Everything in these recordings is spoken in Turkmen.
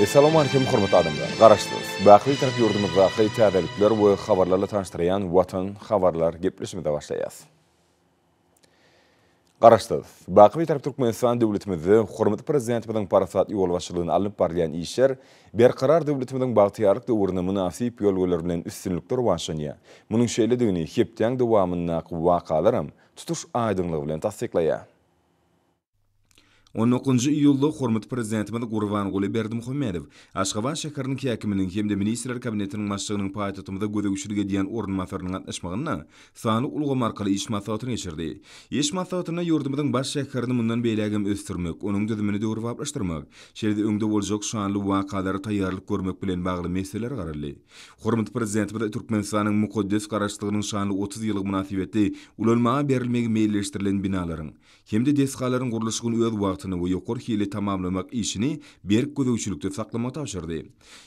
Essalam Aleýkum hormatly adamlar! Garaşsyz, baky Bitarap ýurdumyzdaky täzelikler we habarlarla tanyşdyrýan Watan habarlar gepleşimize başlaýas. Garaşsyz, baky Bitarap Türkmenistan döwletimizde hormatly Prezidentimiziň parasatly ýolbaşçylygynda alnyp barylýan işler Berkarar döwletimiziň bagtyýarlyk döwründe mynasyp ýörelgeler bilen üstünlikli rowaçlanýar. Munuň şeýledigini hepdäň dowamyndaky wakalaram tutuş aýdyňlygy bilen tassyklaýar. On dokuzynjy iýulda hormatly Prezidentimiz Gurbanguly Berdimuhamedow Aşgabat şäheriniň häkiminiň hem-de Ministrler Kabinetiniň başlygynyň paýtagtymyza gözegçilik edýän orunbasarynyň gatnaşmagynda sanly ulgam arkaly iş maslahatyny geçirdi. Iş maslahatynda ýurdumyzyň baş şäherini mundan beýläk hem ösdürmek, onuň düzümini döwrebaplaşdyrmak, şeýle-de öňde boljak şanly wakalara taýýarlyk görmek bilen bagly meseleler garaldy. Hormatly Prezidentimiz Türkmenistanyň mukaddes Garaşsyzlygynyň şanly otuz ýyllygy mynasybetli ulanmaga berilmegi meýilleşdirilen binalaryň, hem-de desgalaryň gurluşygyny öz wagtynda we ýokary hilli tamamlamak işini berk gözegçilikde saklamagy tabşyrdy.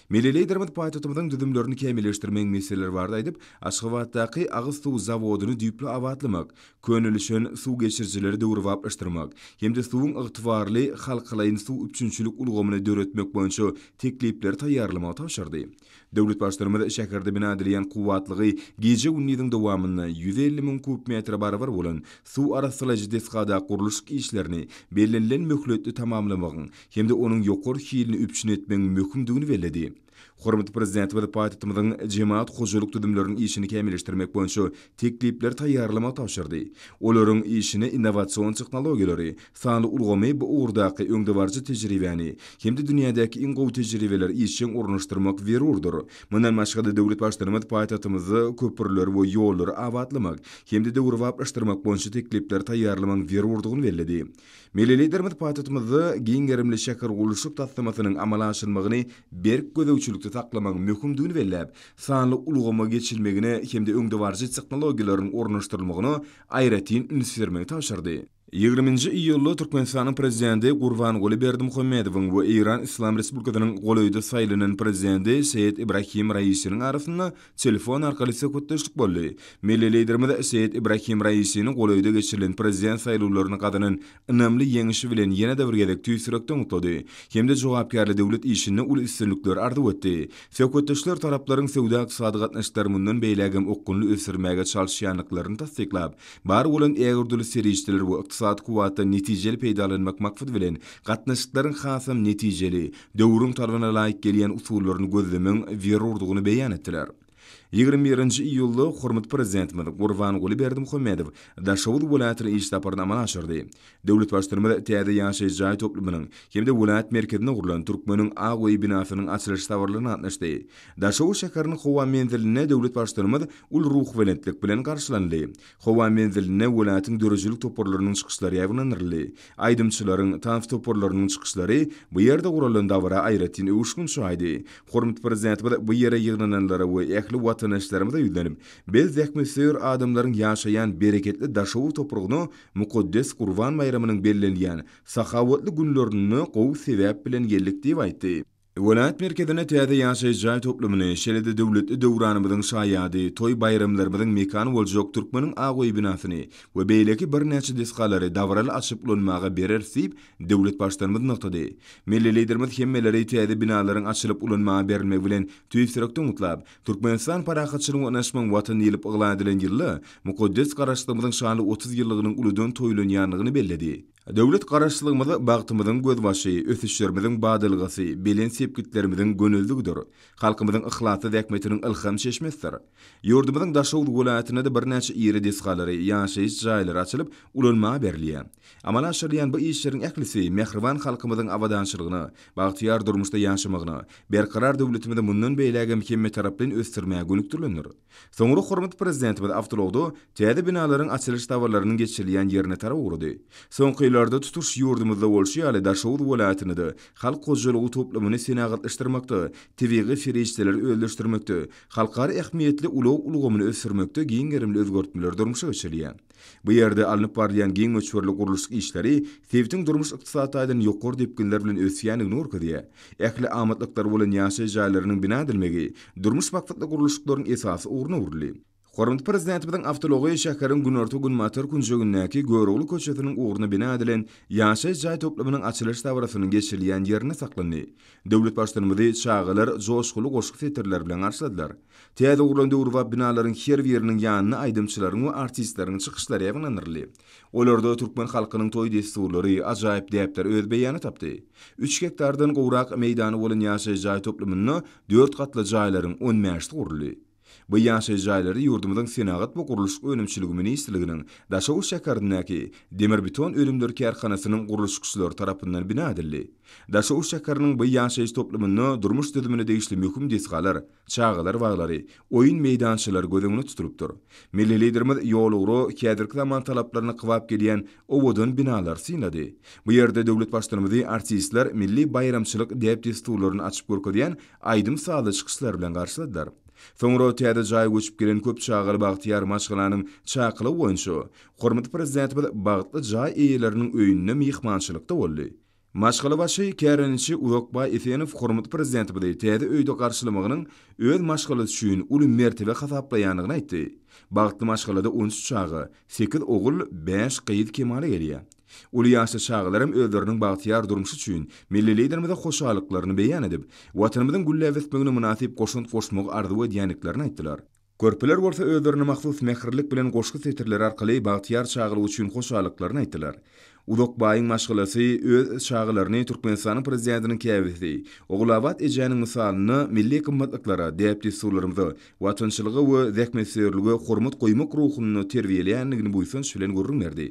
Milli Liderimiz paýtagtymyzyň düzümlerini kämilleşdirmegiň meseleleri barada aýdyp, Aşgabatdaky agyz suw zawodyny düýpli abatlamak, könelişen suw geçirijileri döwrebaplaşdyrmak hem-de suwuň ygtybarly halkalaýyn suw üpjünçilik ulgamyny döretmek boýunça teklipleri taýýarlamagy tabşyrdy. Döwlet Baştutanymyz şäherde bina edilýän kuwwatlygy gije-gündiziň dowamynda ýüz elli müň kub metre barabar bolan suw arassalaýjy desgada gurluşyk işlerini bellenilen möhletde tamamlamagyň hem-de onuň ýokary hilini üpjün etmegiň möhümdigini belledi. Hormatly Prezidentimiz paýtagtymyzyň jemagat hojalyk düzümleriniň işini kämilleşdirmek boýunça teklipleri taýýarlamak tabşyrdy, olaryň işine innowasion tehnologiýalary, Sanly ulgamy bu ugurdaky öňdebaryjy tejribäni hem-de dünýädäki iň gowy tejribeleri işjeň ornaşdyrmak zerurdyr. Mundan başga-da, döwlet Baştutanymyz paýtagtymyzda köprüleri we ýollary abatlamak hem-de döwrebaplaşdyrmak boýunça teklipleri taýýarlamagyň zerurdygyny belledi. Milli Liderimiz paýtagtymyzda giň gerimli şähergurluşyk taslamasynyň amala aşyrylmagyny berk gözegçilikde saklamagyň möhümdigini belläp, sanly ulgama geçilmegine hem-de öňdebaryjy tehnologiýalaryň ornaşdyrylmagyna aýratyn üns bermegi tabşyrdy. Ýigrimi nji iýulda Türkmenistanyň Prezidenti Gurbanguly Berdimuhamedowyň we Eýran Yslam Respublikasynyň golaýda saýlanan Prezidenti Seýed Ibrahim Raisiniň arasynda telefon arkaly söhbetdeşlik boldy. Milli Liderimiz Seýed Ibrahim Raisini golaýda geçirilen Prezident saýlawlaryny gazanan ynamly ýeňişi bilen ýene-de bir gezek tüýs ýürekden gutlady hem-de jogapkärli döwlet işinde uly üstünlikler arzuw etdi. Söhbetdeşler taraplaryň söwda-ykdysady gatnaşyklary mundan beýlägem okgunly ösdürmäge çalyşýandyklaryny tassyklap, Bar bolan ägördüli serişdeler we ykdysady kuwwatdan netijeli peýdalanmak maksady bilen, gatnaşyklaryň hasam netijeli, döwrüň talabyna laýyk gelýän usullaryny gözlemegiň zerurdygyny beýan etdiler. Ýigrimi birinji iýulda hormatly Prezidentimiz Gurbanguly Berdimuhamedow Daşoguz welaýatyna iş saparyny amala aşyrdy. Döwlet Baştutanymyz täze ýaşaýyş jaý toplumynyň hem-de welaýat merkezinde gurlan Türkmeniň ak öýi binasynyň açylyş dabaralygyna gatnaşdy. Daşoguz şäheriniň howa menzilinde döwlet Baştutanymyz uly ruhubelentlik bilen garşylandy. Howa menzilinde welaýatyň döredijilik toparlarynyň çykyşlary ýaýbaňlandyryldy. Aýdymçylaryň, tans toparlarynyň çykyşlary bu ýerde guralan dabara aýratyn öwüşgin çaýdy. Hormatly Prezidentimiz bu ýere ýygnananlara we ähli watandaşlarymyza ýüzlenip, Biz zähmetsöýer adamlaryň ýaşaýan bereketli Daşoguz topragyna Mukaddes Gurban baýramynyň bellenilýän sahawatly günlerinde gowy sebäp bilen geldik diýip aýtdy. Welaýat merkezine täze ýaşaýyş jaý toplumyny, şeýle-de döwletli döwranymyzyň şaýady, toý-baýramlarymyzyň mekany boljak Türkmeniň ak öýi binasyny we beýleki birnäçe desgalary dabaraly açyp ulanmaga bereris diýip, döwlet Baştutanymyz nygtady. Milli Liderimiz hemmeleri täze binalaryň açylyp ulanmaga berilmegi bilen tüýs ýürekden gutlap, Türkmenistan parahatçylygyň we ynaşmagyň Watany diýlip yglan edilen ýylda mukaddes Garaşsyzlygymyzyň şanly otuz ýyllygynyň uludan toýlanýandygyny belledi. Döwlet Garaşsyzlygymyz bagtymyzyň gözbaşy, ösüşlerimiziň badalgasy, belent sepgitlerimiziň gönezligidir, halkymyzyň yhlasly zähmetiniň ylham çeşmesidir. Ýurdumyzyň Daşoguz welaýatynda-da birnäçe iri desgalary, ýaşaýyş jaýlary açylyp, ulanmaga berilýär. Amala aşyrylýan bu işleriň ählisi mähriban halkymyzyň abadançylygyna, bagtyýar durmuşda ýaşamagyna, Berkarar döwletimizi mundan beýlägem hemmetaraplaýyn ösdürmäge gönükdirilendir. Soňra hormatly Prezidentimiz awtoulagda täze binalaryň açylyş dabararynyň geçirilýän ýerine tarap ugrady. Soňky ýyllarda tutuş ýurdumyzda bolşy ýaly Daşoguz welaýatynda-da halk hojalygy toplumyny senagatlaşdyrmakda, tebigy serişdeleri özleşdirmekde, halkara ähmiýetli ulag ulgamyny ösdürmekde giň gerimli özgertmeler durmuşa geçirilýär. Bu ýerde alnyp barylýan giň möçberli gurluşyk işleri sebitiň durmuş-ykdysady taýdan ýokary depginler bilen ösýändigini görkezýär. Ähli amatlyklary bolan ýaşaýyş jaýlarynyň bina edilmegi durmuş maksatly gurluşyklaryň esasy ugryna öwrüldi. Hormatly Prezidentimiziň awtoulagy şäheriň günorta-günbatar künjegindäki Görogly köçesiniň ugruna bina edilen ýaşaýyş jaý toplumynyň açylyş dabarasynyň geçirilýän ýerinde saklandy. Döwlet Baştutanymyzy çagalar joşguly goşgy setirleri bilen garşyladylar. Täze gurlan döwrebap binalaryň her biriniň ýanyna aýdymçylaryň we artistleriň çykyşlary ýygnandyryldy. Olarda türkmen halkynyň toý dessurlary, ajaýyp däpler öz beýany tapdy. Üç gektardan gowrak meýdany bolan ýaşaýyş jaý toplumynda dört gatly jaýlaryň on bäşisi guruldy. Bu ýaşaýyş jaýlary ýurdumyzyň Senagat we gurluşyk önümçiligi ministrliginiň Daşoguz şäherindäki Demirbeton önümleri kärhanasynyň gurluşykçylary tarapyndan bina edildi. Daşoguz şäheriniň bu ýaşaýyş toplumynda durmuş düzümine degişli möhüm desgalar, çagalar baglary, oýun meýdançalary göz öňünde tutulypdyr. Milli Liderimiz ýolugra häzirki zaman talaplaryna kybap gelýän owadan binalary synlady. Bu ýerde döwlet Baştutanymyzy artistler milli baýramçylyk däp-dessurlaryny açyp görkezýän aýdym-sazly çykyşlar bilen garşyladylar. Soňra täze jaýa göçüp gelen köp çagaly bagtyýar maşgalanyň çakylygy boýunça hormatly Prezidentimiz bagtly jaý eýeleriniň öýünde myhmançylykda boldy. Maşgala başy kärendeçi Uzakbaý Esenow hormatly Prezidentimizi täze öýde garşylamagynyň öz maşgalasy üçin uly mertebe hasaplaýandygyny aýtdy. Bagtly maşgalada on üç çaga, sekiz ogul, bäş gyz kemala gelýär. Uly ýaşly çagalaram özleriniň bagtyýar durmuşy üçin Milli Liderimize hoşallyklaryny beýan edip, Watanymyzyň gülläp ösmegine mynasyp goşant goşmagy arzuw edýändiklerini aýtdylar. Körpeler bolsa özlerine mahsus mähirlik bilen goşgy setirleri arkaly bagtyýar çagalyk üçin hoşallyklaryny aýtdylar. Uzak baýyň maşgalasy öz çagalaryny Türkmenistanyň Prezidentiniň käbesi Ogulabat ejäniň mysalynda milli gymmatlyklara, däp-dessurlarymyza, watançylyga we zähmetsöýerlige hormat goýmak ruhunda terbiýeleýändigini buýsanç bilen gürrüň berdi.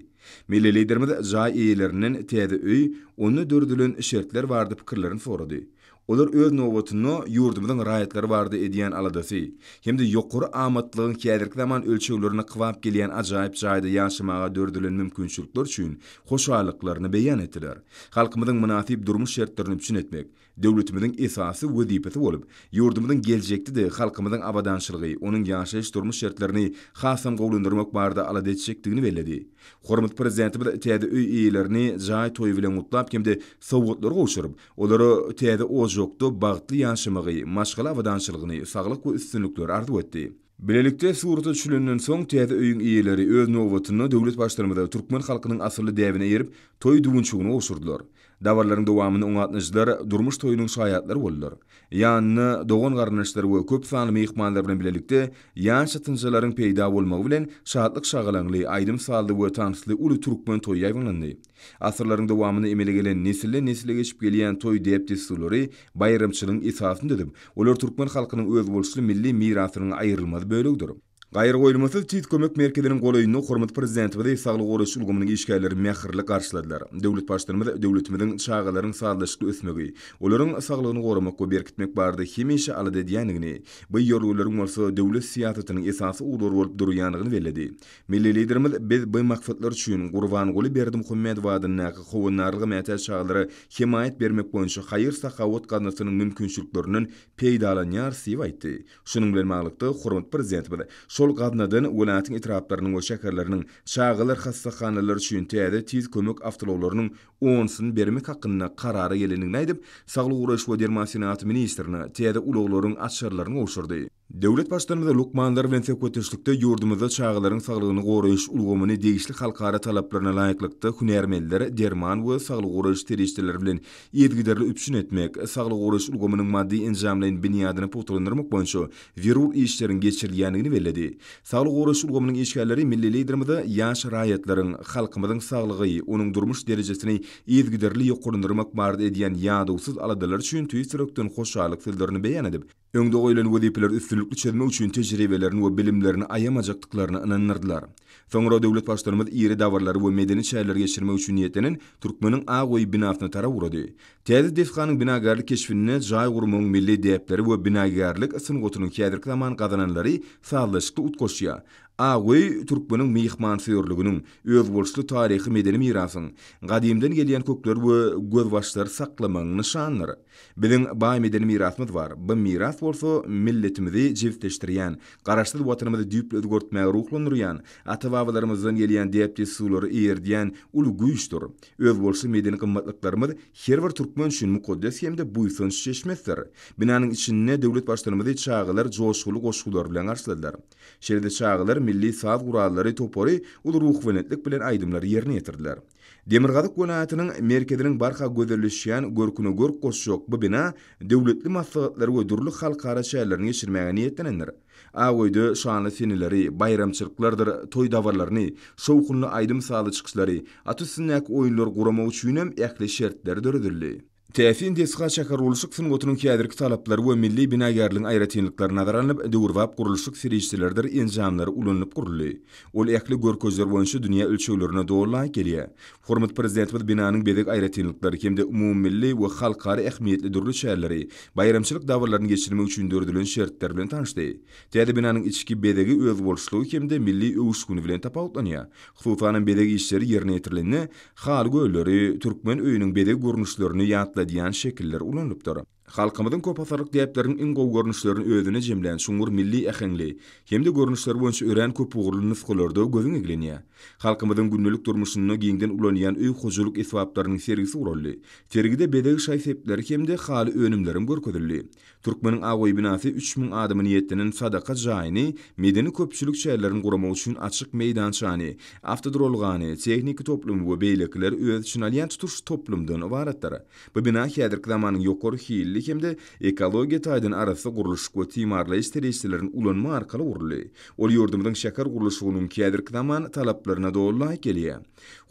Milli Liderimiz jaý eýelerinden täze öý, onda döredilen şertler barada pikirlerini sorady. Olar öz nobatynda ýurdumyzyň raýatlary barada edýän aladasy hem-de ýokary amatlygyň häzirki zaman ölçeglerine kybap gelýän ajaýyp jaýda ýaşamaga döredilen mümkinçilikler üçin hoşallyklaryny beýan etdiler. Halkymyzyň mynasyp durmuş şertlerini üpjün etmek döwletimiziň esasy wezipesi bolup, ýurdumyzyň geljekde-de halkymyzyň abadançylygy, onuň ýaşaýyş-durmuş şertlerini hasam gowulandyrmak barada alada etjekdigini belledi. Hormatly Prezidentimiz täze öý eýelerini jaý toýy bilen gutlap hem-de sowgatlar gowşuryp, Olara täze ojakda bagtly ýaşamagy, maşgala abadançylygyny, saglyk we üstünlikleri arzuw etdi. Bilelikde surata düşülenden soň, täze öýüň eýeleri, öz nobatynda, döwlet Baştutanymyza türkmen halkynyň asylly däbine eýerip, toý düwünçegini gowşurdylar. Dabaralaryň dowamynda oňa gatnaşyjylar durmuş toýunyň şaýatlary boldular. Ýanyna dogan-garyndaşlary we köp sanly myhmanlar bilen bilelikde ýaş çatynjalaryň peýda bolmagy bilen, şatlyk-şagalaňly, aýdym-sazly we tansly uly türkmen toýy ýaýbaňlandy. Asyrlaryň dowamynda emele gelen nesilden-nesle geçip gelýän toý däp-dessurlary baýramçylygyň esasyny düzüp, olar türkmen halkynyň özboluşly milli mirasynyň aýrylmaz bölegidir. Gaýragoýulmasyz Tiz kömek merkeziniň golaýynda hormatly Prezidentimizi saglygy goraýyş ulgamynyň işgärleri mähirli garşyladylar. Döwlet Baştutanymyz döwletimiziň çagalaryň sazlaşykly ösmegi, olaryň saglygyny goramak we berkitmek barada hemişe alada edýändigini, bu ýörelgeleriň bolsa döwlet syýasatynyň esasy ugurlary bolup durýandygyny belledi. Milli Liderimiz Biz bu maksatlar üçin Gurbanguly Berdimuhamedow adyndaky Howandarlyga mätäç çagalara hemaýat bermek boýunça haýyr-sahawat gaznasynyň mümkinçiliklerinden peýdalanýarys diýip aýtdy. Şunuň bilen baglylykda, hormatly Prezidentimiz şol gaznadan welaýatyň etraplarynyň we şäherleriniň çagalar hassahanalary üçin täze tiz kömek awtoulaglarynyň onusyny bermek hakynda karara gelendigini aýdyp, Saglygy goraýyş we derman senagaty ministrine täze ulaglaryň açarlaryny gowşurdy. Döwlet Baştutanymyz lukmanlar bilen söhbetdeşlikde ýurdumyzda çagalaryň saglygyny goraýyş ulgamyny degişli halkara talaplaryna laýyklykda hünärmenler, derman we saglygy goraýyş serişdeleri bilen yzygiderli üpjün etmek, saglygy goraýyş ulgamynyň maddy-enjamlaýyn binýadyny pugtalandyrmak boýunça zerur işleriň geçirilýändigini belledi. Saglygy goraýyş ulgamynyň işgärleri milli Liderimize ýaş raýatlaryň, halkymyzyň saglygy, onuň durmuş derejesini yzygiderli ýokarlandyrmak barada edýän ýadawsyz aladalary üçin tüýs ýürekden hoşallyk sözlerini beýan edip, öňde goýlan wezipeleri üstünlikli çözmek üçin tejribelerini we bilimlerini aýamajakdyklaryna ynandyrdylar. Soňra döwlet Baştutanymyz iri dabaralar we medeni çäreleri geçirmek üçin niýetlenen Türkmeniň ak öýi binasyna tarap ugrady. Täze desganyň binagärlik keşbinde jaý gurmagyň milli däpleri we binagärlik sungatynyň häzirki zaman gazananlary sazlaşykly utgaşýar. Ak öý türkmeniň myhmansöýerliginiň, özboluşly taryhy-medeni mirasyň, gadymdan gelýän kökleri we gözbaşlary saklamagyň nyşanydyr. Biziň baý medeni mirasymyz bar. Bu miras bolsa milletimizi jebisleşdirýän, Garaşsyz Watanymyzy düýpli özgertmäge ruhlandyrýan, ata-babalarymyzdan gelýän däp-dessurlary eýerdýän uly güýçdür. Özboluşly medeni gymmatlyklarymyz her bir türkmen üçin mukaddes hem-de buýsanç çeşmesidir. Binanyň içinde döwlet Baştutanymyzy çagalar joşgunly goşgular bilen garşyladylar. Şeýle-de çagalar milli saz gurallary topary uly ruhubelentlik bilen aýdymlary ýerine ýetirdiler. Demirgazyk welaýatynyň merkeziniň barha gözelleşýän görküne görk goşjak bu bina döwletli maslahatlary we dürli halkara çärelerini geçirmäge niýetlenendir. Ak öýde şanly seneleri, baýramçylyklardyr toý-dabarlaryny, şowhunly aýdym-sazly çykyşlary, at üstündäki oýunlary guramak üçinem ähli şertler döredildi. Täsin desga şähergurluşyk sungatynyň häzirki talaplary we milli binagärligiň aýratynlyklary nazara alnyp, döwrebap gurluşyk serişdeleridir enjamlary ulanylyp guruldy. Ol ähli görkeziler boýunça dünýä ölçeglerine doly laýyk gelýär. Hormatly Prezidentimiz binanyň bezeg aýratynlyklary hem-de umumymilli we halkara ähmiýetli dürli çäreleri, baýramçylyk dabararyny geçirmek üçin döredilen şertler bilen tanyşdy. Täze binanyň içki bezegi özboluşlygy hem-de milli öwüşgini bilen tapawutlanýar. Hususanam bezeg işleri ýerine ýetirilende, Haly gölleri, türkmen öýüniň bezeg görnüşlerini ýatladýan şekiller ulanylypdyr. Halkymyzyň köpasyrlyk däpleriniň iň gowy görnüşlerini özüne jemlän çuňňur milli äheňli hem-de görnüşleri boýunça örän köpugurly nusgalarda gözüň eglenýär. Halkymyzyň gündelik durmuşynda giňden ulanýan öý hojalyk esbaplarynyň sergisi guraldy. Sergide bezeg şaý-sepleri hem-de haly önümlerem görkezildi. Türkmeniň Agoý binasy üç müň adama niýetlenen sadaka jaýyny, medeni-köpçülik çärelerini guramak üçin açyk meýdançany, awtoduralgany, tehniki toplumy we beýlekileri öz içine alýan tutuş toplumdan ybaratdyr. Bu bina häzirki zamanyň ýokary hilli hem-de ekologiýa taýdan arassa gurluşyk we timarlaýyş serişdelerini ulanma arkaly guruldy. Ol ýurdumyzyň şäher gurluşygynyňkäzirki zaman talaplaryna doly laýyk gelýär.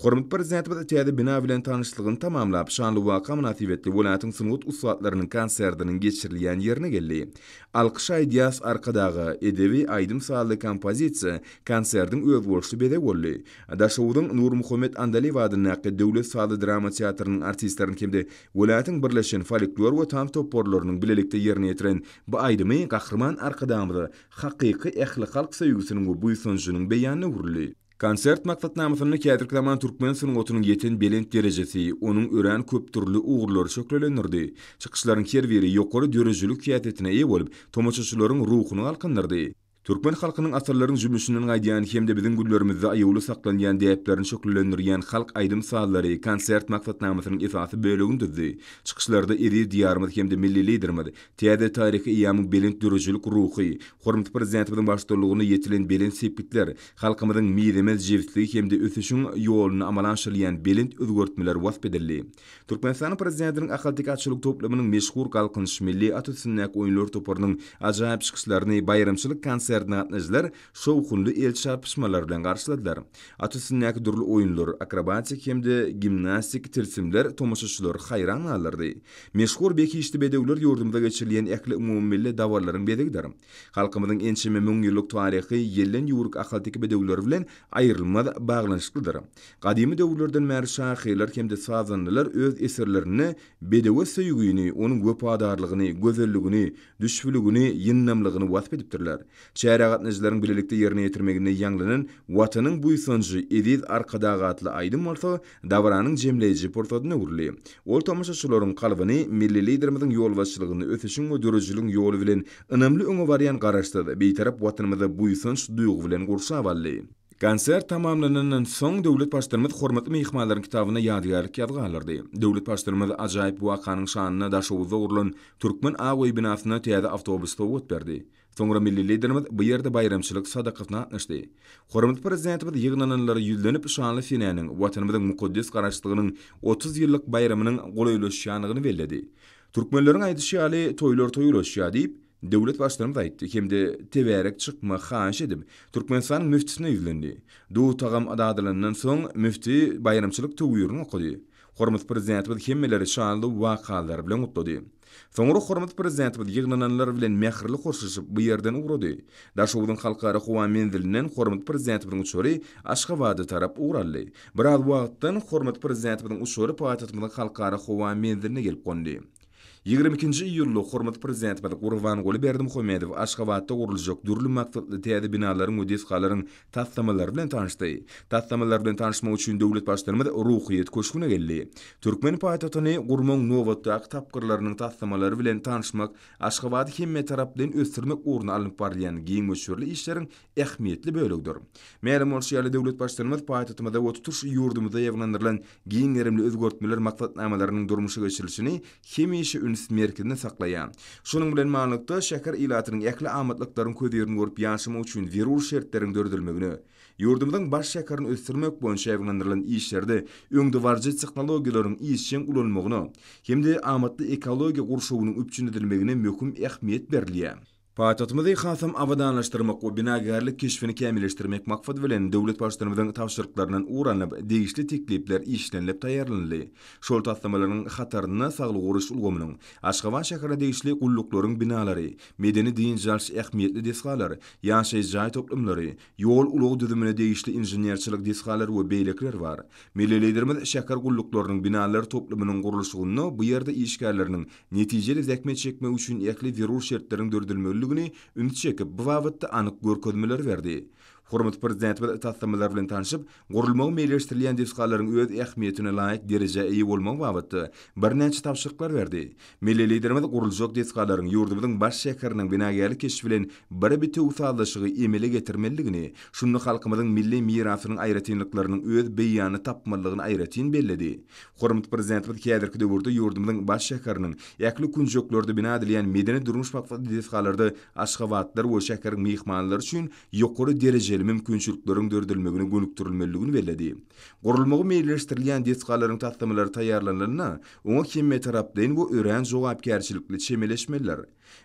Hormatly Prezidentimiz täze bina bilen tanyşlygyny tamamlap, şanly waka mynasybetli welaýatyň sungat ussatlarynyň konsertiniň geçirilýän ýerine geldi. Alkyş aýdýas Arkadaga! edebi aýdym-sazly kompozisiýa konsertiň özboluşly bezegi boldy. Daşoguzyň Nurmuhammet Andalyýew adyndaky döwlet sazly-drama teatrynyň artistleriniň hem-de welaýatyň birleşen folklor we tans toparlarynyň bilelikde ýerine ýetiren bu aýdymy Gahryman Arkadagymyza hakyky ählihalk söýgüsiniň we buýsanjynyň beýanyna öwrüldi. Konsert maksatnamasynda häzirki zaman türkmen sungatynyň ýeten belent derejesi, onuň örän köpdürli ugurlary şöhlelendirdi. Çykyşlaryň her biri ýokary döredijilik häsiýetine eýe bolup, tomaşaçylaryň ruhuny galkyndyrdy. Türkmen halkynyň asyrlaryň jümmüşinden gaýdýan hem-de biziň günlerimizde aýawly saklanýan däplerini şöhlelendirýän halk aýdym-sazlary konsert maksatnamasynyň esasy bölegini düzdi. Çykyşlarda eziz Diýarymyz hem-de milli Liderimiz täze taryhy eýýamyň belent döredijilik ruhy, hormatly Prezidentimiziň baştutanlygynda ýetilen belent sepgitler, Halkymyzyň mizemez jebisligi hem-de ösüşiň ýolunda amala aşyrylýan belent özgertmeler wasp edildi. Türkmenistanyň Prezidentiniň Ahalteke atçylyk toplumynyň meşhur Galkynyş milli at üstündäki oýunlar toparynyň ajaýyp çykyşlaryny baýramçylyk konsertine gatnaýjylar şowhunly el çarpyşmalar bilen garşyladylar. At üstündäki dürli oýunlar, akrobatik hem-de gimnastik tilsimler tomaşaçylary haýran galdyrdy. Meşhur Behişdi bedewler ýurdumyzda geçirilýän ähli umumymilli dabaralaryň bezegidir. Halkymyzyň ençeme müň ýyllyk taryhy ýelden ýüwrük ahalteke bedewleri bilen aýrylmaz baglanyşyklydyr. Gadymy döwürlerden bäri şahyrlar hem-de sazandalar öz eserlerinde bedewe söýgini, onuň wepadarlygyny, gözelligini, düşbüligini, ýyndamlygyny wasp edipdirler. Çärä gatnaýjylaryň bilelikde ýerine ýetirmeginde ýaňlanan Watanyň buýsanjy, eziz Arkadag atly aýdym bolsa Dabaranyň jemleýji pursadyna öwrüldi. Ol tomaşaçylaryň kalbyny milli Liderimiziň ýolbaşçylygynda ösüşiň we döredijiligiň ýoly bilen ynamly öňe barýan Garaşsyz, Bitarap Watanymyza buýsanç duýgy bilen gurşap aldy. Konsert tamamlanandan soň, döwlet Baştutanymyz hormatly myhmanlaryň kitabyna ýadygärlik ýazgy galdyrdy. Döwlet Baştutanymyz ajaýyp wakanyň şanyna Daşoguzda gurlan Türkmen aw-öý binasyna täze awtobus sowgat berdi. Soňra milli Liderimiz bu ýerde baýramçylyk sadakasyna gatnaşdy. Hormatly Prezidentimiz ýygnananlara ýüzlenip şanly senäniň, Watanymyzyň mukaddes Garaşsyzlygynyň otuz ýyllyk baýramynyň golaýlaşýandygyny belledi. Türkmenleriň aýdyşy ýaly, Toýlar toý ulaşýar diýip, döwlet Baştutanymyz aýtdy hem-de tebärek çykma haýyş edip, Türkmenistanyň müftisine ýüzlendi. Duz-tagam dadylandan soň, müfti baýramçylyk töwürini okady. Hormatly Prezidentimiz hemmeleri şanly wakalar bilen gutlady. Soňra hormatly Prezidentimiz ýygnananlar bilen mähirli hoşlaşyp, bu ýerden ugrady. Daşoguzyň Halkara howa menzilinden hormatly Prezidentimiziň uçary Aşgabada tarap ugur aldy. Biraz wagtdan hormatly Prezidentimiziň uçary paýtagtymyzyň Halkara howa menziline gelip gondy. Ýigrimi ikinji iýulda hormatly Prezidentimiz Gurbanguly Berdimuhamedow Aşgabatda guruljak dürli maksatly täze binalaryň we desgalaryň taslamalar bilen tanyşdy. Taslamalar bilen tanyşmak üçin döwlet Baştutanymyz Ruhyýet köşgüne geldi. Türkmen paýtagtyny gurmagyň nobatdaky tapgyrlarynyň taslamalary bilen tanyşmak Aşgabady hemmetaraplaýyn ösdürmek ugrunda alnyp barylýan giň möçberli işleriň ähmiýetli bölegidir. Mälim bolşy ýaly, döwlet Baştutanymyz paýtagtymyzda we tutuş ýurdumyzda ýaýbaňlandyrylan giň gerimli özgertmeler maksatnamalarynyň durmuşa geçirilişini hemişe üns merkezinde saklaýar. Şunuň bilen manyklykda, şäher ilatynyň ähli amatlyklaryň köz-ýerüni görüp ýaşamak üçin zerur şertleriň döredilmegine, ýurdumyzyň baş şäherini ösdürmek boýunça aýwanlandyrylan işlerde öňdebaryjy tehnologiýalaryň işjeň ulanylmagyna hem-de amatly ekologiýa gurşawynyň üpjün edilmegine möhüm ähmiýet berilýär. Paýtagtymyzy hasam abadanlaşdyrmak we binagärlik keşbini kämilleşdirmek maksady bilen, döwlet Baştutanymyzyň tabşyryklaryndan ugur alnyp, degişli teklipler işlenilip taýýarlanyldy. Şol taslamalaryň hatarynda saglygy goraýyş ulgamynyň, Aşgabat şäherine degişli gulluklaryň binalary, medeni-dynç alyş ähmiýetli desgalar, ýaşaýyş jaý toplumlary, ýol-ulag düzümine degişli inženerçilik desgalary we beýlekiler bar. Milli Liderimiz şäher gulluklarynyň binalary toplumynyň gurluşygynda bu ýerde işgärleriniň netijeli zähmet çekmek üçin ähli zerur şertleriň döredilmelidigini ünsi çekip, bu babatda anyk görkezmeleri berdi. Hormatly Prezidentimiz taslamalar bilen tanşyp, gurulmagy meýilleşdirilýän desgalaryň öz ähmiýetine laýyk derejä eýe bolmagy babatda birnäçe tabşyryklar berdi. Milli Liderimiz guruljak desgalaryň ýurdumyzyň baş şäheriniň binagärlik keşbi bilen bir bitewi sazlaşygy emele getirmelidigini, şunda halkymyzyň milli mirasynyň aýratynlyklarynyň öz beýanyny tapmalydygyny aýratyn belledi Hormatly Prezidentimiz häzirki döwürde ýurdumyzyň baş şäheriniň ähli künjeklerinde bina edilýän medeni-durmuş maksatly desgalarda aşgabatlylar we şäheriň myhmanlary üçin ýokary derejeli mümkinçilikleriň döredilmegine gönükdirilmelidigini belledi. Gurulmagy meýilleşdirilýän desgalaryň taslamalary taýýarlanylanda, oňa hemmetaraplaýyn we örän jogapkärçilikli çemeleşmelidir.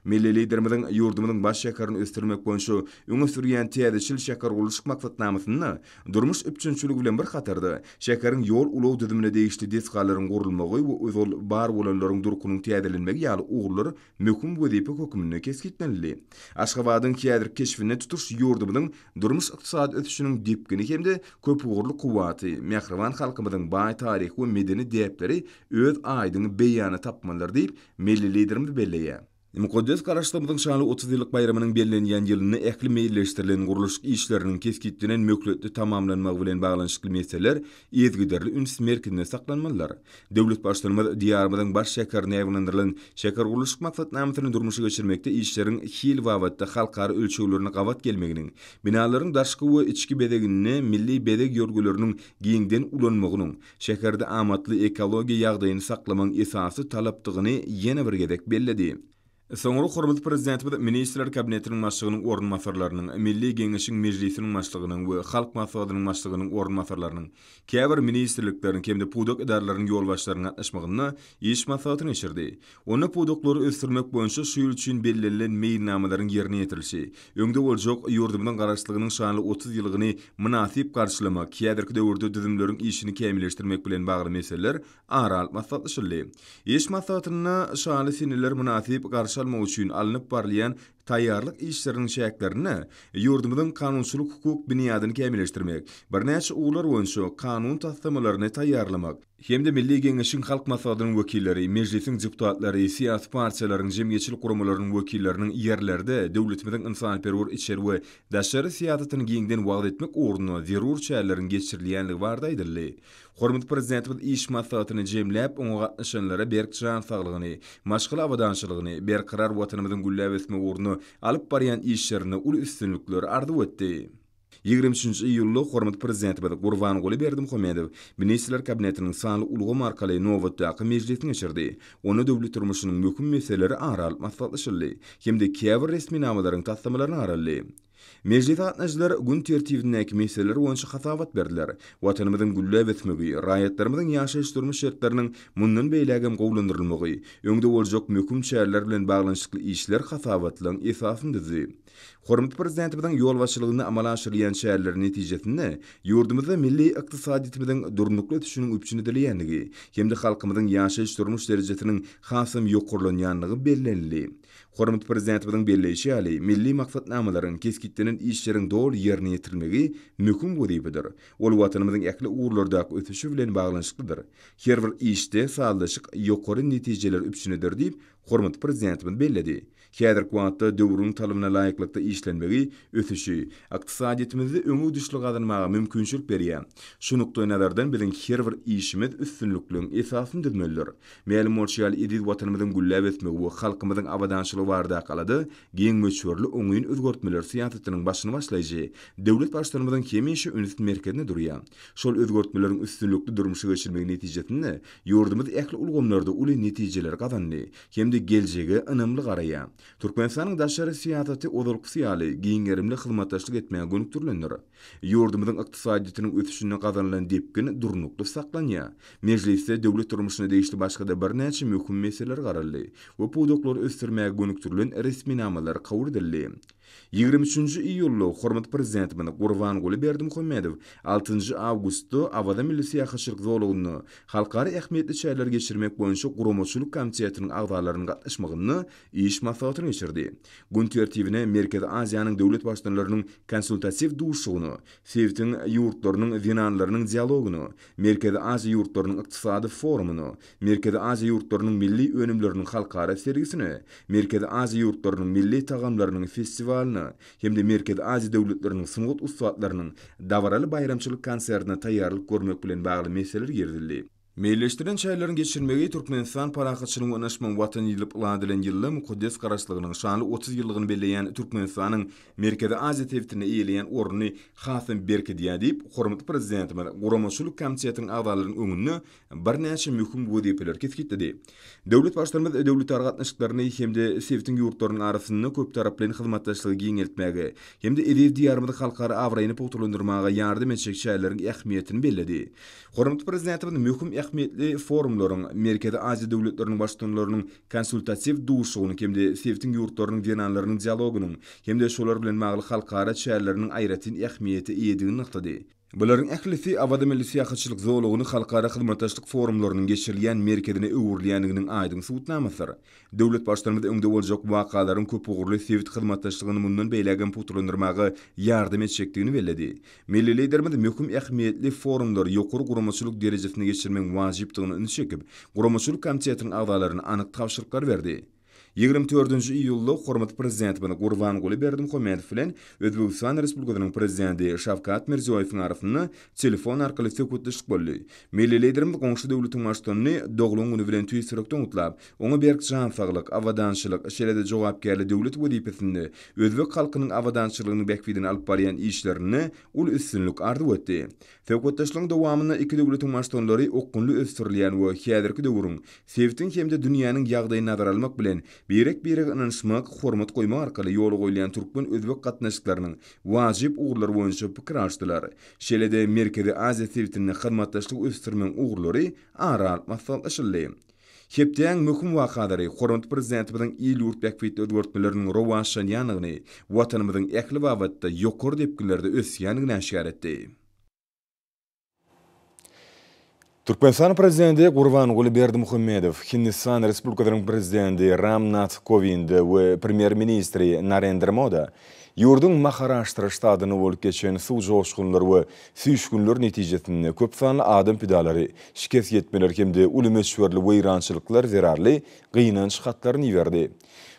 Milli Liderimiziň ýurdumyzyň baş şäherini ösdürmek boýunça öňe sürýän täzeçil şähergurluşyk maksatnamasynda durmuş üpjünçiligi bilen bir hatarda, şäheriň ýol-ulag düzümine degişli desgalaryň gurulmagy we ozal bar bolanlaryň durkunyň täzelenmegi ýaly ugurlar möhüm wezipe hökmünde kesgitlenildi. Aşgabadyň häzirki keşbinde tutuş ýurdumyzyň durmuş-ykdysady ösüşiniň depgini hem-de köpugurly kuwwaty, mähriban halkymyzyň baý taryhy we medeni däpleri öz aýdyň beýanyny tapmalydyr diýip, Milli Liderimiz belleýär. Mukaddes Garaşsyzlygymyzyň şanly otuz ýyllyk baýramynyň bellenýän ýylynda ähli meýilleşdirilen gurluşyk işleriniň kesgitlenen möhletde tamamlanmagy bilen baglanyşykly meseleler yzygiderli üns merkezinde saklanmalydyr. Döwlet Baştutanymyz Diýarymyzyň baş şäherinde ýaýbaňlandyrylan şähergurluşyk maksatnamasyny durmuşa geçirmekde işleriň hil babatda halkara ölçeglerine gabat gelmeginiň, binalaryň daşky we içki bezeginde milli bezeg ýörgüleriniň giňden ulanmagynyň, şäherde amatly ekologiýa ýagdaýyny saklamagyň esasy talapdygyny ýene bir gezek belledi. Soňra hormatly Prezidentimiz Ministrler Kabinetiniň Başlygynyň orunbasarlarynyň, Milli Geňeşiň Mejlisiniň Başlygynyň we Halk Maslahatynyň Başlygynyň orunbasarlarynyň, käbir ministrlikleriň hem-de pudak edaralarynyň ýolbaşçylarynyň gatnaşmagynda iş maslahaty geçirdi. Onda pudaklary ösdürmek boýunça şu ýyl üçin bellenilen meýilnamalaryň ýerine ýetirilişi, öňde boljak ýurdumyzyň Garaşsyzlygynyň şanly otuz ýyllygyny mynasyp garşylamak, häzirki döwürde düzümleriň işini kämilleşdirmek bilen bagly meseleler ara alyp maslahatlaşyldy. Iş maslahatynda şaly seneler mynasyp garşy almak üçin alnyp barylýan Taýýarlyk işleriniň çäklerinde ýurdumyzyň kanunçylyk-hukuk binýadyny kämilleşdirmek, birnäçe ugurlar boýunça kanun taslamalaryny taýýarlamak hem-de Milli Geňeşiň, Halk Maslahatynyň wekilleri, Mejlisiň deputatlary, syýasy partiýalaryň, jemgyýetçilik guramalarynyň wekilleriniň ýerlerde döwletimiziň ynsanperwer içeri we daşary syýasatyny giňden wagyz etmek ugrunda zerur çäreleriň geçirilýändigi barada aýdyldy. Hormatly Prezidentimiz iş maslahatyny jemläp, oňa gatnaşanlara berk jan saglygyny, maşgala abadançylygyny, berkarar Watanymyzyň gülläp ösmegi ugrunda alyp barýan işlerinde uly üstünlikleri arzuw etdi. Ýigrimi üçünji iýulda hormatly Prezidentimiz Gurbanguly Berdimuhamedow Ministrler Kabinetiniň sanly ulgam arkaly nobatdaky mejlisini geçirdi. Onda döwlet durmuşynyň möhüm meseleleri ara alyp maslahatlaşyldy hem-de käbir resminamalaryň taslamalaryny garaldy. Mejlise gatnaşyjylar gün tertibindäki meseleler boýunça hasabat berdiler. Watanymyzyň gülläp ösmegi, raýatlarymyzyň ýaşaýyş-durmuş şertleriniň mundan beýläk hem gowulandyrylmagy, öňde boljak möhüm çäreler bilen baglanyşykly işler hasabatlaryň esasyny düzdi. Hormatly Prezidentimiziň ýolbaşçylygynda amala aşyrylýan çäreler netijesinde ýurdumyzda milli ykdysadyýetimiziň durnukly ösüşiniň üpjün edilýändigi hem-de halkymyzyň ýaşaýyş-durmuş derejesiniň hasam ýokarlanýandygy bellenildi. Hormatly Prezidentimiziň belleýşi ýaly, milli maksatnamalaryň, kesgitlenen işleriň doly ýerine ýetirilmegi möhüm wezipedir. Ol Watanymyzyň ähli ugurlardaky ösüşi bilen baglanyşyklydyr. Her bir işde sazlaşyk ýokary netijeleri üpjün eder diýip, hormatly Prezidentimiz belledi. Häzirki wagtda döwrüň talabna laýyklykda işlenmegi ösüşi, ykdysadyýetimizde öňegidişli gazanmaga mümkinçilik berýär. Şu nukdaýnazardan biziň her bir işimiz üstünlikligiň esasyny düzmelidir. Mälim bolşy ýaly, eziz Watanymyzyň gülläp ösmegi we halkymyzyň abadançylygy baradaky alada giň möçberli oňyn özgertmeler syýasatynyň başyny başlaýjy döwlet Baştutanymyzyň hemişe ünsi merkezinde durýar. Şol özgertmeleriň üstünlikli durmuşa geçirilmegi netijesinde ýurdumyz ähli ulgamlarda uly netijeleri gazandy hem-de geljege ynamly garaýar. Türkmenistanyň daşary syýasaty ozalkysy ýaly giň gerimli hyzmatdaşlyk etmäge gönükdirilendir. Ýurdumyzyň ykdysadyýetiniň ösüşinde gazanylan depgin durnukly saklanýar. Mejlisde döwlet durmuşyna degişli başga-da birnäçe möhüm meseleler garaldy we pudaklary ösdürmäge gönükdirilen resminamalar kabul edildi. Ýigrimi üçünji iýulda hormatly Prezidentimiz Gurbanguly Berdimuhamedow altynjy awgustda Awaza milli syýahatçylyk zolagynda halkara ähmiýetli çäreleri geçirmek boýunça guramaçylyk komitetiniň agzalarynyň gatnaşmagynda Iş maslahatyny geçirdi. Gün tertibine Merkezi Aziýanyň döwlet baştutanylarynyň konsultatiw duşuşygyny, sebitiň ýurtlarynyň zenanlarynyň dialogyny, Merkezi Aziýa ýurtlarynyň ykdysady forumyny, Merkezi Aziýa ýurtlarynyň milli önümleriniň halkara sergisini, Merkezi Aziýa ýurtlarynyň milli tagamlarynyň festiwalyny hem-de Merkezi Aziýa döwletleriniň sungat ussatlarynyň dabaraly baýramçylyk konsertine taýýarlyk görmek bilen bagly meseleler girizildi. Meýilleşdirilen çäreleriň geçirilmegi Türkmenistan parahatçylygyň we ynaşmagyň Watany diýlip lat edilen ýylda mukaddes Garaşsyzlygynyň şanly otuz ýyllygyny belleýän Türkmenistanyň Merkezi Aziýa sebitinde eýeleýän ornuny has-da berkidýär diýip, hormatly Prezidentimiz guramaçylyk komitetiniň agzalarynyň öňünde birnäçe möhüm wezipeleri kesgitledi. Döwlet Baştutanymyz döwletara gatnaşyklaryny hem-de sebitiň ýurtlarynyň arasynda köptaraplaýyn hyzmatdaşlygy giňeltmäge hem-de eziz Diýarymyzyň halkara abraýyny pugtalandyrmaga ýardam etjek çäreleriň ähmiýetini belledi. Hormatly Prezidentimiz möhüm ähmiýetli forumlaryň, Merkezi Aziýa döwletleriniň Baştutanlarynyň konsultatiw duşuşygynyň hem-de sebitiň ýurtlarynyň zenanlarynyň dialogynyň hem-de şolar bilen bagly halkara çäreleriniň aýratyn ähmiýete eýedigini nygtady. Bularyň ählisi Awaza milli syýahatçylyk zolagyny halkara hyzmatdaşlyk forumlarynyň geçirilýän merkezine öwrülýändiginiň aýdyň subutnamasydyr. Döwlet Baştutanymyz öňde boljak wakalaryň köpugurly sebit hyzmatdaşlygyny mundan beýlägem pugtalandyrmaga ýardam etjekdigini belledi. Milli Liderimiz möhüm ähmiýetli forumlary ýokary guramaçylyk derejesinde geçirmegiň wajypdygyna ünsi çekip, Guramaçylyk komitetiniň agzalaryna anyk tabşyryklary berdi. Ýigrimi dördünji iýulda hormatly Prezidentimiz Gurbanguly Berdimuhamedow bilen Özbegistan Respublikasynyň Prezidenti Şawkat Mirziýoýewiň arasynda telefon arkaly söhbetdeşlik boldy. Milli Liderimiz goňşy döwletiň Baştutanyny doglan güni bilen tüýs ýürekden gutlap, oňa berk jan saglyk, abadançylyk, şeýle-de jogapkärli döwlet wezipesinde özbek halkynyň abadançylygynyň bähbidine alyp barýan işlerinde uly üstünlik arzuw etdi. Söhbetdeşligiň dowamynda iki döwletiň maşgalalary okgunly ösdürilýän we häzirki döwrüň, sebitiň hem-de dünýäniň ýagdaýyny nazara almak bilen, birek-birege ynanyşmak, hormat goýmak arkaly ýola goýulýan türkmen-özbek gatnaşyklarynyň wajyp ugurlary boýunça pikir alşdylar. Şeýle-de Merkezi Aziýa sebitinde hyzmatdaşlygy ösdürmegiň ugurlary ara alyp maslahatlaşyldy. Hepdäň möhüm wakalary hormatly Prezidentimiziň il-ýurt bähbitli özgertmeleriniň rowaçlanýandygyny, Watanymyzyň ähli babatda ýokary depginlerde ösýändigini äşgär etdi. Türkmenistan Prezidenti Gurbanguly Berdimuhamedow Hindistan Respublikasynyň Prezidenti Ram Nath Kowind we Premýer-ministri Narendra Moda ýurduň Maharaştra ştatynda bolup geçen suw joşgunlary we Süýşgünler netijesinde köp sanly adam pidalary, şikes ýetmeler hem-de uly möçberli weýrançylyklar zerarly gynanç hatlaryny iberdi.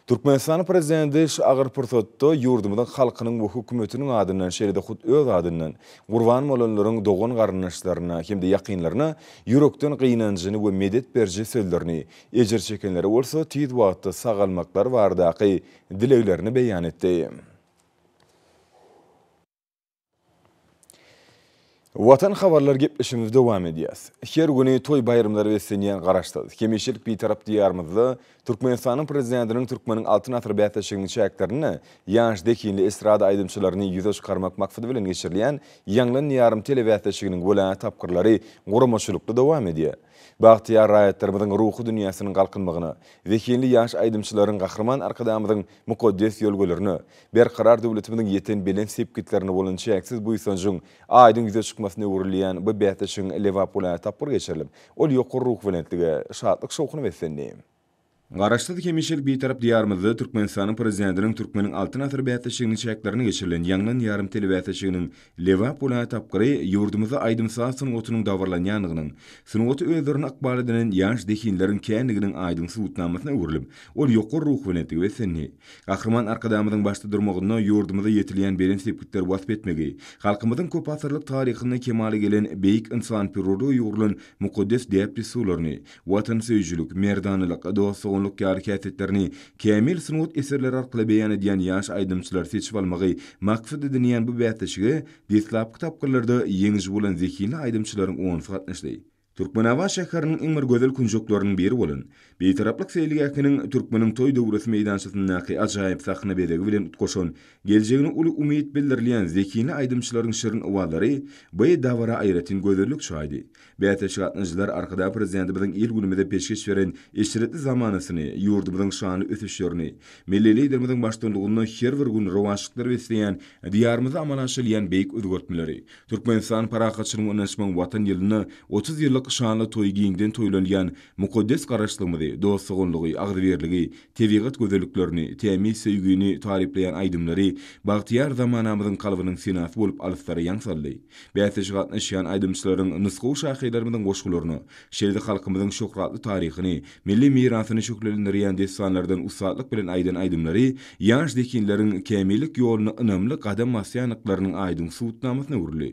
Türkmenistan Prezidenti şu agyr pursatda ýurdumyzyň halkynyň we hökümetiniň adyndan şeýle-de hut öz adyndan gurban bolanlaryň dogan-garyndaşlaryna hem-de ýakynlaryna ýürekden gynanjyny we medet beriji sözlerini, ejir çekenlere bolsa tiz wagtda sagalmaklary baradaky dileglerini beýan etdi. Watan habarlar gepleşigimizi dowam edýäs. Her güni toý-baýramlara beslenýän Garaşsyz, hemişelik Bitarap Diýarymyzda Türkmenistanyň Prezidentiniň Türkmeniň Altyn asyry bäsleşiginiň çäklerinde ýaş zehinli estrada aýdymçylaryny ýüze çykarmak maksady bilen geçirilýän Ýaňlan Diýarym telebäsleşiginiň welaýat tapgyrlary guramaçylykly dowam edýär. Bagtyýar raýatlarymyzyň ruhy dünýäsiniň galkynmagyna, zehinli ýaş aýdymçylaryň Gahryman Arkadagymyzyň mukaddes ýörelgelerine, Berkarar döwletimiziň ýeten belent sepgitlerine bolan çäksiz buýsanjyň aýdyň ýüze çykmasyna öwrülýän bu bäsleşigiň Lebap welaýaty tapgyry geçirilip, ol ýokary ruhubelentlige, şatlyk-şowhuna beslendi. Garaşsyz, hemişelik Bitarap Diýarymyzda Türkmenistanyň Prezidentiniň Türkmeniň Altyn asyry bäsleşiginiň çäklerinde geçirilen Ýaňlan ýarym telebäsleşiginiň Lebap welaýat tapgyry ýurdumyzda aýdym-saz sungatynyň dabaralanýandygynyň, sungaty özlerine ykbal edinen ýaş zehinleriň kändiginiň aýdyň subutnamasyna öwrülip, ol ýokary ruhubelentlige beslendi. Gahryman Arkadagymyzyň başda durmagynda ýurdumyzda ýetilýän belent sepgitleri wasp etmegi, halkymyzyň köpasyrlyk taryhynda kemala gelen beýik ynsanperwerlige ýugrulan mukaddes däp-dessurlaryny, watansöýüjilik, merdanalyk, dost-doganlyk ýaly häsiýetlerini kämil sungat eserleri arkaly beýan edýän ýaş aýdymçylary seçip almagy maksat edinýän bu bäsleşige deslapky tapgyrlarda ýeňiji bolan zehinli aýdymçylaryň onusy gatnaşdy. Türkmenabat şäheriniň iň bir gözel künjekleriniň biri bolan Bitaraplyk seýilgähiniň Türkmeniň toý döwresi meýdançasyndaky ajaýyp sahna bezegi bilen utgaşan geljegine uly umyt bildirilýän zehinli aýdymçylaryň şirin owazlary bu dabara aýratyn gözellik çaýdy. Bäsleşik gatnaşyjylar Arkadag Prezidentimiziň il-günümize peşgeş beren eşretli zamanasyny, ýurdumyzyň şanly ösüşlerini, milli Liderimiziň baştullugynda her bir gün rowaçlyklar besleýän Diýarymyzda amala aşyrylýan beýik özgertmeleri, Türkmenistan parahatçylygyň öňüne çykan Watan ýylynda otuz ýyllyk şanly toýy giňden toýlanýan mukaddes Garaşlygymyzy, dost-doganlygy, agzybirligi, tebigat gözelliklerini, tämiz söýgini taryplaýan aýdymlary bagtyýar zamanamyzyň kalbynyň senasy bolup alyslara ýaň saldy. Bäsleşige gatnaşýan aýdymçylaryň nusgawy şahyrlarymyzyň goşgularyny, şeýle-de halkymyzyň şöhratly taryhyny, milli mirasyny şöhlelendirýän dessanlardan ussatlyk bilen aýdan aýdymlary ýaş zehinleriň kämillik ýoluna ynamly gadam basýandyklarynyň aýdyň subutnamasyna öwrüldi.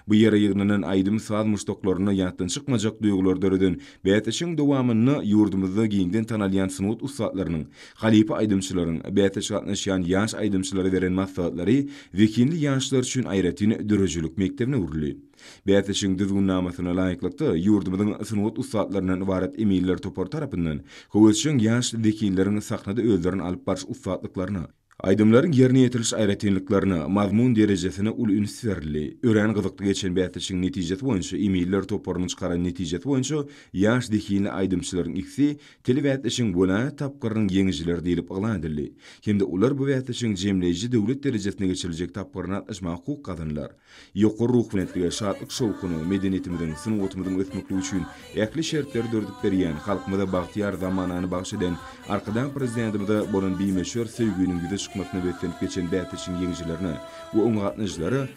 Bu ýere ýygnanan aýdym-saz muşdaklarynda ýatdan çykmajak duýgulary döreden bäsleşigiň dowamynda ýurdumyzda giňden tanalýan sungat ussatlarynyň, Halypa aýdymçylaryň, bäsleşige gatnaşýan ýaş aýdymçylara beren maslahatlary zehinli ýaşlar üçin aýratyn döredijilik mekdebine öwrüldi. Bäsleşigiň düzgünnamasyna laýyklykda, ýurdumyzyň sungat ussatlaryndan ybarat eminler topary tarapyndan höwesjeň ýaş zehinleriň sahnada özlerini alyp baryş ussatlyklaryna, aýdymlaryň ýerine ýetiriliş aýratynlyklaryna, mazmun derejesine uly üns berildi. Örän gyzykly geçen bäsleşigiň netijesi boýunça eminler toparynyň çykaran netijesi boýunça ýaş zehinli aýdymçylaryň ikisi Dili bäsleşigiň welaýat tapgyrynyň ýeňijileri diýlip yglan edildi hem-de olar bu bäsleşigiň jemleýji döwlet derejesinde geçiriljek tapgyryna gatnaşmaga hukuk gazandylar. Ýokary ruhubelentlige, şatlyk-şowhuna, medeniýetimiziň, sungatymyzyň ösmeklige üçin ähli şertleri döredip berýän, halkymyza bagtyýar zamanany bagyş eden Arkadag Prezidentimize bolan bimöçber söýginiň ýüze çykmasyna beslenip geçen bäsleşigiň ýeňijilerine we oňa gatnaşyjylara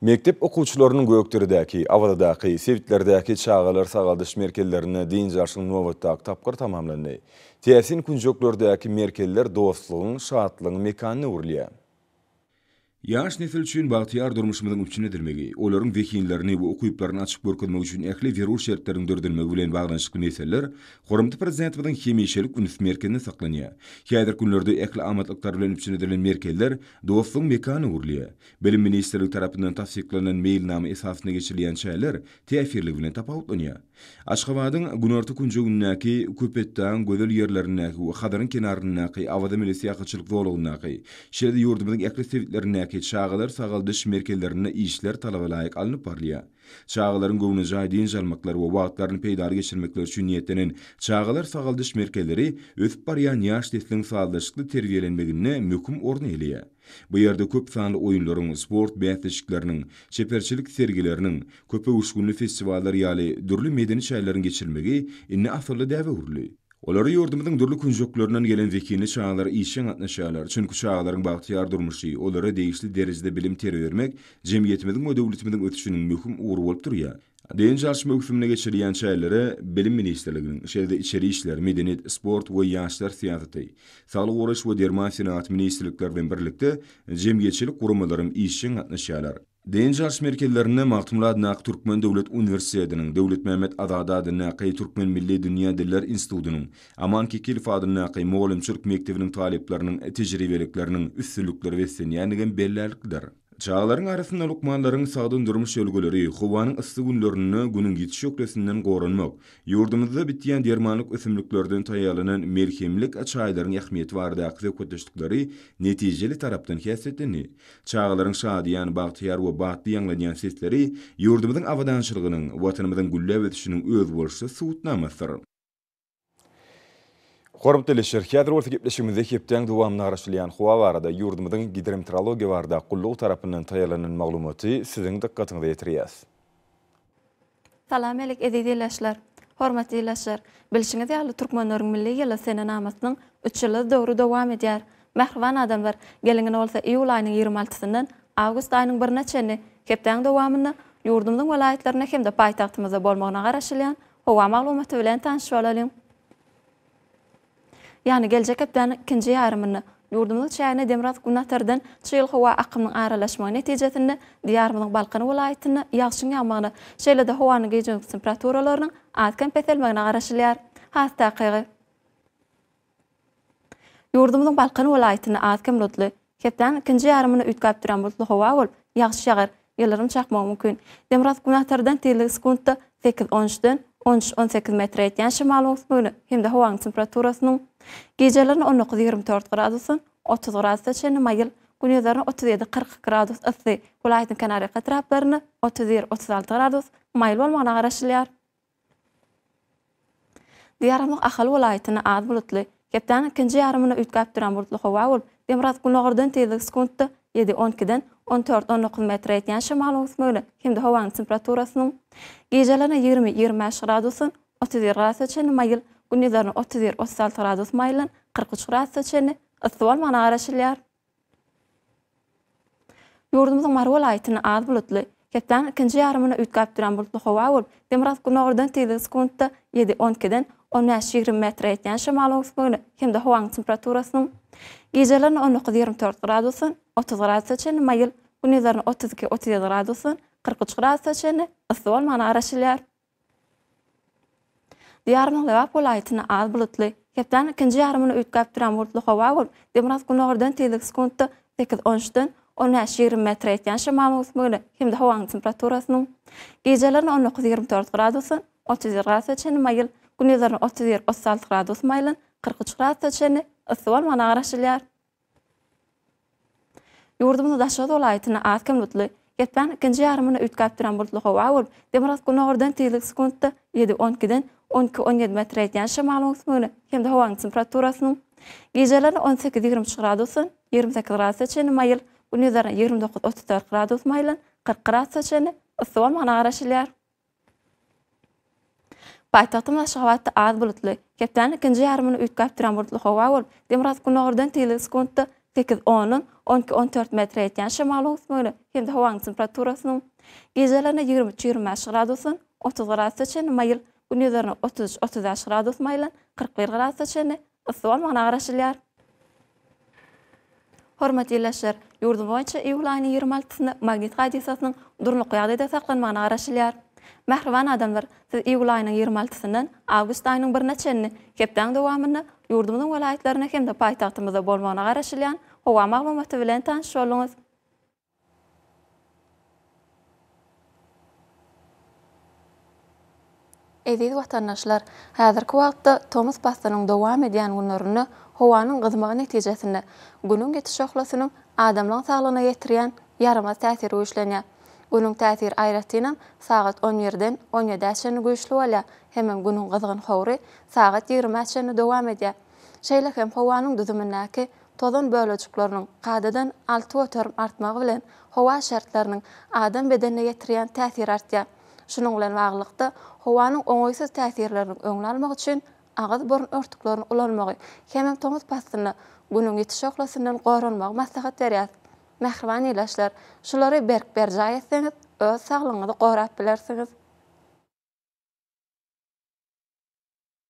Mekdep okuwçylarynyň Gökderedäki, Awazadaky, sebitlerdäki çagalar sagaldyş merkezlerinde dynç alşyň nobatdaky tapgyry tamamlandy. Täsin künjeklerdäki merkezler dostlugyň, şatlygyň mekanyna öwrülýär. Ýaş nesil üçin bagtyýar durmuşymyzyň üpjün edilmegi, olaryň zehinlerini we ukyplaryny açyp görkezmek üçin ähli zerur şertleriň döredilmegi bilen baglanyşykly meseleler hormatly Prezidentimiziň hemişelik üns merkezinde saklanýar. Häzirki günlerde ähli amatlyklar bilen üpjün edilen merkezler dostlugyň mekanyna öwrülýär. Bilim ministrligi tarapyndan tassyklanan meýilnama esasynda geçirilýän çäreler täsirligi bilen tapawutlanýar. Aşgabadyň günorta künjegindäki Köpetdagyň gözel ýerlerindäki we Hazaryň kenaryndaky Awaza milli syýahatçylyk zolagyndaky, şeýle-de ýurdumyzyň ähli sebitlerindäki çagalar sagaldyş merkezlerinde işler talaba laýyk alnyp barylýar. Çagalaryň göwnejaý dynç almaklary we wagtlaryny peýdaly geçirmekleri üçin niýetlenen çagalar sagaldyş merkezleri ösüp barýan ýaş nesliň sazlaşykly terbiýelenmeginde möhüm orny eýeleýär. Bu ýerde köp sanly oýunlaryň, sport bäsleşikleriniň, çeperçilik sergileriniň, köpöwüşginli festiwallar ýaly dürli medeni çäreleriň geçirilmegi indi asylly däbe öwrüldi. Olara ýurdumyzyň dürli künjeklerinden gelen zehinli çagalar işjeň gatnaşýarlar, çünki çagalaryň bagtyýar durmuşy, olara degişli derejede bilim-terbiýe bermek jemgyýetimiziň we döwletimiziň ösüşiniň möhüm ugry bolup durýar. Dynç alyş möwsümini geçirilýän çärelere Bilim ministrliginiň, şeýle-de Içeri işler, Medeniýet, sport we ýaşlar syýasaty, Saglygy goraýyş we derman senagaty ministrlikleri bilen birlikde jemgyýetçilik guramalaram işjeň gatnaşýarlar. Dynç alyş merkezlerinde Magtymguly adyndaky Türkmen döwlet uniwersitetiniň, Döwletmämmet Azady adyndaky Türkmen milli dünýä diller institutynyň, Aman Kekilow adyndaky mugallymçylyk mekdebiniň talyplarynyň tejribelikleriniň üstünlikli beslenýändigem bellärliklidir. Çagalaryň arasynda lukmanlaryň sagdyn durmuş ýörelgeleri, howanyň yssy günlerinde Günüň ýiti şöhlesinden goranmak, ýurdumyzda bitýän dermanlyk ösümliklerden taýýarlanan melhemlik çaýlaryň ähmiýeti baradaky söhbetdeşlikleri netijeli tarapdan häsiýetlendi. Çagalaryň şadyýan, bagtyýar we batly ýaňlanýan sesleri ýurdumyzyň abadançylygynyň, Watanymyzyň gülläp ösüşiniň özboluşly subutnamasydyr. Hormatly teleşir, häzir bolsa gepleşigimizde hepdäň dowamynda garaşylýan howa barada ýurdumyzyň Gidrometeorologiýa barada gullugy tarapyndan taýýarlanan maglumaty siziň dykgatyňyza ýetirýäs. Salam alik eziz ilaçlar. Hormatly ilaçlar, bilşiňiz ýaly Türkmenleriň milli ýyly senenamasynyň üç ýyllyk döwri dowam edýär. Mähriban adamlar, geliň indi bolsa iýul aýynyň ýigrimi altysyndan awgust aýynyň birine çenli hepdäň dowamynda ýurdumyzyň welaýatlarynda hem-de paýtagtymyzda bolmagyna garaşylýan Howa maglumaty bilen tanyş bolalyň. Ýagny geljek hepdäniň ikinji ýarymynda, ýurdumyzyň çägine demirgazyk günatardan çyýyl howa akymynyň aralaşmagy netijesinde Diýarymyzyň Balkan welaýatynda ýagşyň ýagmagyna, şeýle-de howanyň gije-gündiz temperaturalarynyň az-kem peselmegine garaşylýar. Has takygy. Ýurdumyzyň Balkan welaýatynda az-kem bulutly. Hepdäniň ikinji ýarymynda üýtgäp duran bulutly howa bolup, ýagyş ýagar, ýyldyrym çakmagy mümkin. Demirgazyk günbatardan tizligi sekuntda sekiz, on üçden on üç, on sekiz metre ýetýän şemal-oňsmöne hem-de howanyň temperaturasynyň gijelerine on dokuz, ýigrimi dört gradusdan otuz gradusa çenli maýyl, günýyzlaryna otuz ýedi, kyrk iki gradus yssy, welaýatyň kenarýaka etraplarynda otuz bir, otuz alty gradus maýyl bolmagyna garaşylýar. Diýarymyz Ahal welaýatynda az bulutly, hepdäniň ikinji ýarymynda üýtgäp duran bulutly howa bolup, demirgazyk günordan tizligi sekuntda ýedi, on ikiden on dört, on dokuz metre ýetýän şemalyň ösmegine hem-de howanyň temperaturasynyň gijelerine ýigrimi, ýigrimi bäş gradusdan otuz bir gradusa çenli maýyl, gündizlerine otuz bir, otuz alty gradus maýyldan kyrk üç gradusa çenli yssy bolmagyna garaşylýar. Ýurdumyzyň Mary welaýatynda az bulutly, hepdäniň ikinji ýarymynda üýtgäp duran bulutly howa bolup, demirgazyk-gündogardan tizligi sekuntda ýedi, on ikiden on bäş, ýigrimi metre ýetýän şamal öwüsmegine hem-de howanyň temperaturasynyň gijelerine on dokuz, ýigrimi dört gradusdan otuz gradusa çenli maýyl, gündizlerine otuz iki, otuz ýedi gradusdan kyrk üç gradusa çenli yssy bolmagyna garaşylýar. Diýarymyzyň Lebap welaýatynda az bulutly, hepdäniň ikinji ýarymyny üýtgäp duran bulutly howa bolup, demirgazyk-gündogardan tizligi sekuntda sekiz, on üçden on bäş, ýigrimi metr ýetýän şemal möwsümine hem-de howanyň temperaturasynyň gijelerine on dokuz, ýigrimi dört gradusdan otuz bir gradusa çenli maýyl, gündizlerine otuz bir, otuz alty gradus maýylan, kyrk üç gradusa çenli yssy bolmagyna garaşylýar. Ýurdumyzyň daşary welaýatyna az kem bulutly, geplän ikinji ýarymyna üýtgäp duran bulutly howa bolup, demirgazgynogurdan tizligi sekuntda ýedi, on ikiden on iki, on ýedi metre ýetýän şamalyň öwüsmegine hem-de howanyň temperaturasynyň gijeleri on sekiz, ýigrimi üç gradusdan ýigrimi sekiz gradusa çenli maýyl, gündizlerine ýigrimi dokuz, otuz dört gradus maýylan kyrk gradusa çenli yssy bolmagyna garaşylýar. Paýtagtymyz Aşgabatda az bulutly, hepdäniň ikinji ýarymyny üýtgäp duran bulutly howa bolup, demirgazyk-gündogardan tiz sekuntda sekiz ondan on iki on dört metre ýetýän şemalyň üsmegine hem-de howanyň temperaturasynyň gijelerine ýigrimi üç ýigrimi bäş gradusdan otuz gradusda çenli maýyl, gündizereine otuz üç otuz bäş gradus maýylan kyrk bir gradusda çenli Yssy bolmagyna garaşylýar. Hormatly ildeşler, ýurdumyz boýunça iýul aýynyň ýigrimi altysynda magnit hadysasynyň durnukly ýagdaýda saklanmagyna garaşylýar. Mähriban adamlar, siz iýul aýynyň ýigrimi altysyndan awgust aýynyň birine çenli hepdäň dowamynda ýurdumyzyň welaýatlarynda hem-de paýtagtymyzda bolmagyna garaşylýan howa maglumaty bilen tanyş bolduňyz. Eziz watandaşlar, häzirki wagtda tomus paslynyň dowam edýän günlerinde howanyň gyzmagy netijesinde, Günüň ýetiş şöhlesiniň adamlaryň saglygyna ýetirýän ýaramaz täsiri güýçlenýär. Günüň täsiri aýratynam sagat on birden on ýedä çenli güýçli bolýar hemem Günüň gyzgyn howry sagat ýigrimä çenli dowam edýär. Şeýle hem howanyň düzümindäki Tozan bölejikleriniň kadadan alty göterim artmagy bilen howa şertleriniň adam bedenine ýetirýän täsiri artýar. Şunuň bilen baglylykda, howanyň oňaýsyz täsirleriniň öňüni almak üçin agyz-burun örtüklerini ulanmagy hemem tomus paslynda Günüň ýiti şöhlesinden goranmagy maslahat berýäs. Mähriban ildeşler, şulary berk berjaý etseňiz, öz saglygyňyzy gorap bilersiňiz.